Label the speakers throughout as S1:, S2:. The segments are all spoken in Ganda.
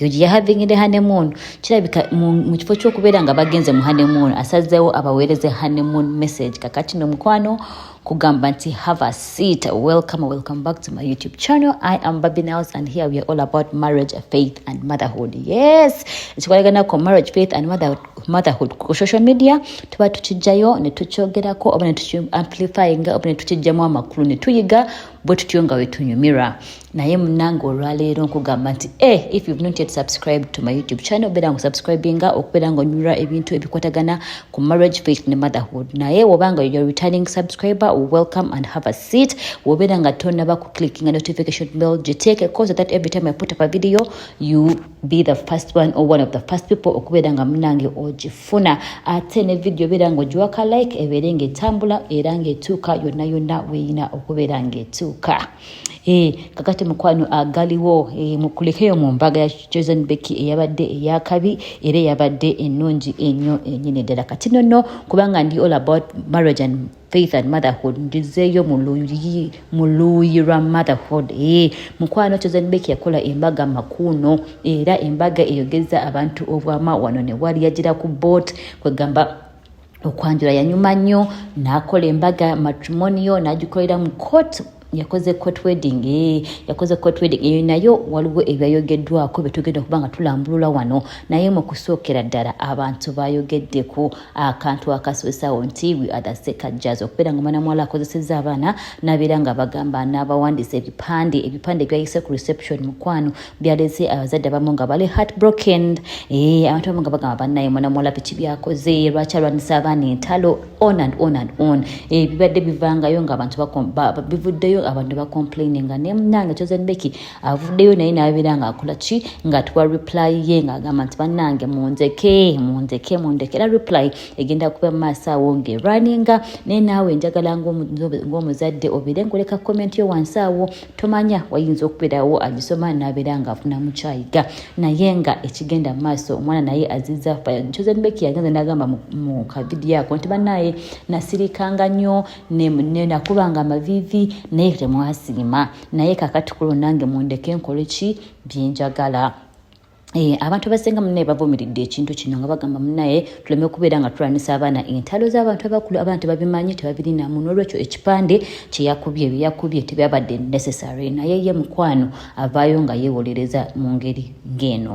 S1: ug ya having the honeymoon kirabika mu kifo kyokubeera nga bagenze mu honeymoon asazeewo abaweereze honeymoon message kakati no mukwano kugamba nti have a seat welcome welcome back to my youtube channel i am baby nails and here we are all about marriage faith and motherhood yes ekikwalagana ku marriage faith and motherhood ku social media tuba tukijjayo ne tukyogerako oba ne tukiamplifyinga oba ne tukijjamu amakulu ne tuyiga bwe tutyo nga wetunyumirwa naye munange olwaleero nkugamba nti e eh, if you've not yet subscribed to my youtube channel obeera nga osubscribinga okubeera nga onyulira ebintu ebikwatagana ku marriage faith ne motherhood naye woba nga your returning subscriber welcome and have a seat wobeera nga tonaba ku clickinga notification bell giteeke cause that every time i put up a video you be the first one or one of the first people okubeera nga munange ogifuna ate ne video obeera nga ogiwaka like ebeere nga etambula era nga etuuka yonna yonna weyina okubeera nga etuuka Eh, kakati mukwano agaliwo eh, mukulekeyo mu mbaga ya chosen becky eyabadde eyakabi era eyabadde ennungi enyo enyini ddala kati nono kubanga ndi all about marriage and faith and motherhood njizeeyo mu luuyi lwa motherhood e mukwano kyozanbek yakola embaga makuuno era embaga eyogeza abantu obwama wano ne wali yagira ku boat kwegamba okwanjula yanyuma nnyo n'akola embaga matrimoniyo n'agikolera mu court yakoze court wedding eh, yakoze court wedding eyo nayo waliwo ebyayogeddwako byetugenda okuba nga tulambulula wano naye mu kusookera ddala abantu bayogedde ku akantu akaswesawo nti we are the sekajaz okubeera nga omwana muwala akozeseza abaana nabeera nga bagamba n'abawandiisa ebipande ebipande ebyayise ku reception mukwano byalese abazadde abamu nga bali heartbroken eh, abantu abamu nga bagamba bannaye mwana muwala biki byakoze lwaki alwanyisa abaana entalo on and on and on eh, bibadde bivangayo nga abantu bivuddeyo abantu bacomplaini nga naye munange chosen beki avuddeyo naye nabeera nga akola ki nga tuwa reply ye nga agamba nti bannange munzeke munzeke mundeke era reply egenda kuba maaso awo ngaerwaninga naye naawe njagala ngaomuzadde obeere nkuleka comment yo wansi awo tomanya wayinza okubeerawo agisoma nabeera nga afuna mukyayiga naye nga ekigenda mu maaso omwana naye aziza chosenbeki yagenza nagamba mu kavidiyo ako nti banaye nasirikanga nnyo nakubanga amavivi naye temwasiima naye kakati kulo nange mundeke nkoleki byenjagala Eh, abantu abasinga munaye bavumiridde ekintu kino nga bagamba munaye tuleme kubeera nga tulwanisa abaana entalo z'abantu abakulu abaana tebabimanyi tebabirinamu n'olwekyo ekipande kyeyakubye byeyakubye tebyabadde necessary naye ye mukwano avaayo nga yeewolereza mu ngeri ng'eno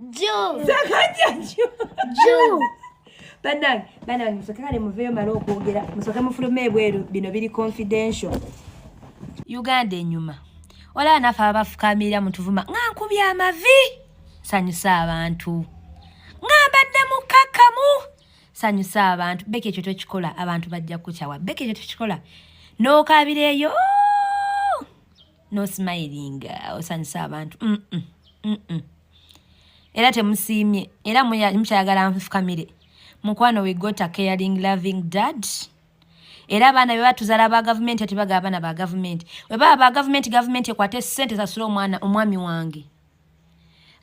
S2: Juu.
S3: Sakaja
S2: juu. Juu.
S3: Banange,
S2: banange musoke kale muveyo mara okwogera. Musoke mufulume ebweru bino biri confidential. Uganda enyuma. Ola anafa abafukamira mutuvuma. Nga nkubya amavi. Sanyusa abantu. Nga mbadde mukakamu. Sanyusa abantu. Beke ekyo tokikola abantu bajja kukyawa. Beke ekyo tokikola. N'okabireyo. No, no smiling osanyusa abantu mm -mm. Mm -mm. era temusiimye era mukyayagala nfukamire mukwano we got a caring loving dad era abaana be batuzala ba gavumenti ati baga abaana ba gavumenti webaba ba gavumenti gavumenti ekwate sente esasule omwana omwami wange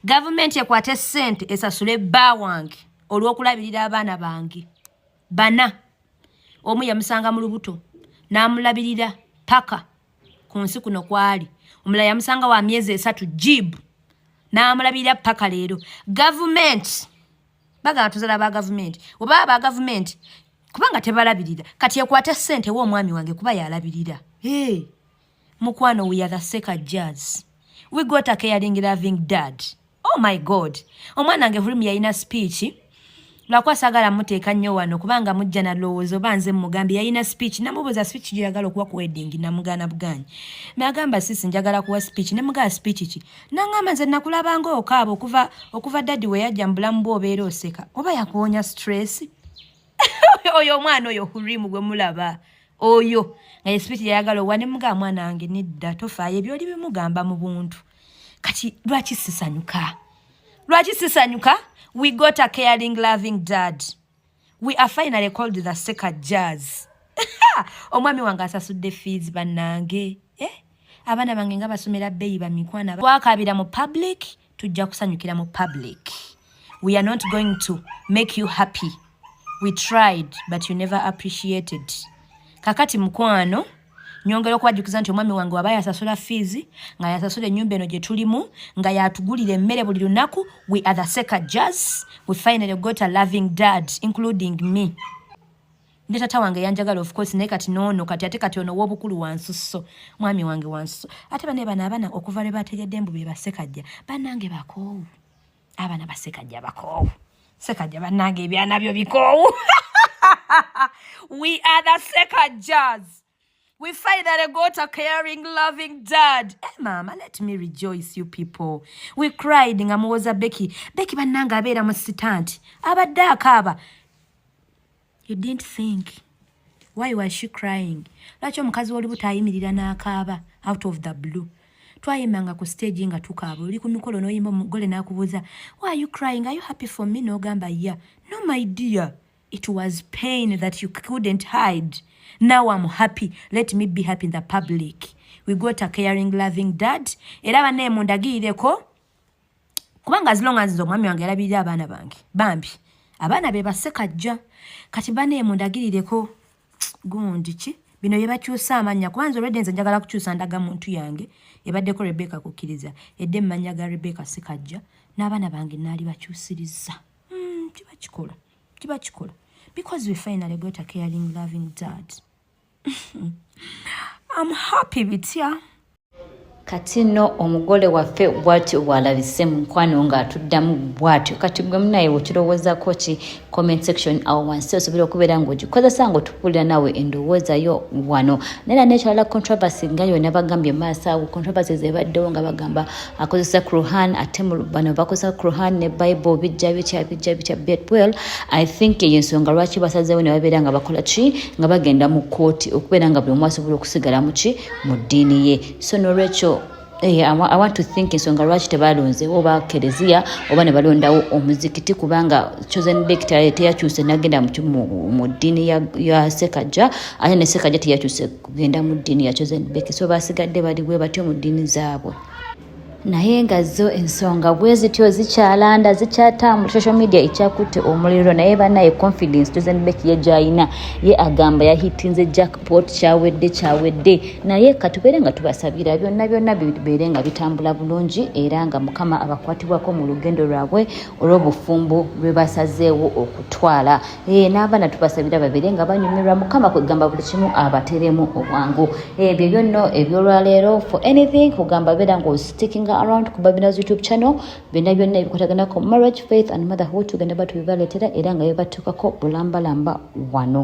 S2: gavumenti ekwate sente esasule bba wange olwokulabirira abaana bange bana omu yamusanga mu lubuto n'amulabirira paka ku nsi kuno kwali omulala yamusanga wa myezi esatu jib n'amulabirira paka leero gavumenti bagala tuzala ba gavumenti oba aba gavumenti kubanga tebalabirira kati ekwate ssente wo omwami wange kuba yalabirira hey. mukwano we are the seka jazz we got a caring loving dad oh my god omwana nge hurim yayina speech lwakuba sagala muteeka nnyo wano kubanga mujja nalowooza oba nze mugambye yayina speech namubuuza speech gyeyagala okuwa ku wedding namugaana bugaanyi nagamba sisi njagala kuwa speech nemugaa speech ki nangamba nze nakulabanga okaaba okuva okuva dadi weyajja mu bulamu bwe obeera oseka oba yakuwonya stress oyo omwana oyo hurimu gwe mulaba oyo nga ye sipiti yayagala owa nemugaa mwana wange nedda tofaayo ebyoli bimugamba mu buntu kati lwaki sisanyuka lwaki sisanyuka we got a caring loving dad we are finally called the seker jazz omwami wange asasudde fees bannange eh? abaana bange nga basomera bbeyi bamikwana twakabira mu public tujja kusanyukira mu public we are not going to make you happy we tried but you never appreciated kakati mukwano nyongera okubajjukiza nti omwami wange waba yasasula fiizi nga yasasula ennyumba eno gye tulimu nga yatugulira emmere buli lunaku we are the seca jazz we finally got a loving dad including me ne tata wange yanjagala of course naye kati noono kati ate kati ono wobukulu wansusso mwami wange wansusso ate bane bano abana okuva lwe bategedde mbu be basekajja banange bakoowu abana basekajja bakoowu sekajja banange ebyanabyo bikoowu we are the sekajjas We finally got a caring, loving dad. Hey, eh, mama, let me rejoice you people. We cried nga muwoza Becky. Becky bananga abera musitanti. Abadde akaaba. You didn't think. Why was she crying? Lwaki omukazi w'olubuto ayimirira n'akaaba out of the blue. Twayimbanga ku stage nga tukaaba. Oli ku mikolo n'oyimba omugole n'akubuuza, Why are you crying? Are you happy for me? N'ogamba, yeah. No, my dear. It was pain that you couldn't hide. Now I'm happy. Let me be happy in the public. We got a caring, loving dad. Era bane mundagireko. Kubanga as long as omwami wange alabirira abaana bange. Bambi. Abaana be baseka jja. Kati bane mundagireko. Gundi ki? Bino bye bakyusa amanya. Kwanza already nze njagala kukyusa ndaga muntu yange. Ebadde ko Rebecca kukiriza. Edde manya ga Rebecca sekajja. N'abaana bange nali bakyusiriza. Mm, kibakikola. kiba kikola because we finally got a caring loving dad I'm happy bitya kati
S1: no omugole waffe bwatyo bwalabise mukwano nga atuddamu bwatyo kati gwe munaye wekirowozako ki comment section awo wansi osobola okubeera ngaogikozesa ngaotupulira nawe endowooza yo wano naye nanekirala controversy nga yona bagambye maaso awo controversy zebaddewo nga bagamba akozesa Quran ate bano bakozesa Quran ne Bible bijja bitya bijja bitya bet well I think eyo ensonga lwaki basazeewo ne babeera nga bakola ki nga bagenda mu kkooti okubeera nga buli omu asobola okusigala mu ki mu ddiini ye so nolwekyo Hey, eh, I, I want to think ensonga lwaki tebalonzewo oba kereziya oba ne balondawo omuzikiti kubanga chosen day teyakyuse nagenda mu ddiini ya, ya sekajja ate ne sekajja teyakyuse kugenda mu ddiini ya chosen beki so basigadde bali bwe batyo mu ddiini zaabwe naye nga zo ensonga bwe zityo zikyalanda zikyatambula social media ekyakutte omuliro naye banaye confidence chosen beki ye gyalina ye agamba yahitinze jackpot kyawedde kyawedde naye katubeere nga tubasabira byonna byonna bibeere nga bitambula bulungi era nga mukama abakwatibwako mu lugendo lwabwe olw'obufumbo lwe basazeewo okutwala Eh, n'abaana tubasabira babeere nga banyumirwa mukama kwegamba buli kimu abateremu obwangu eh, ebyo byonno ebyolwaleero for anything kugamba beera nga osticking around ku babina's youtube channel byonna byonna ebikwataganako marriage faith and motherhood tugenda batubibaleetera era nga bebatuukako bulambalamba wano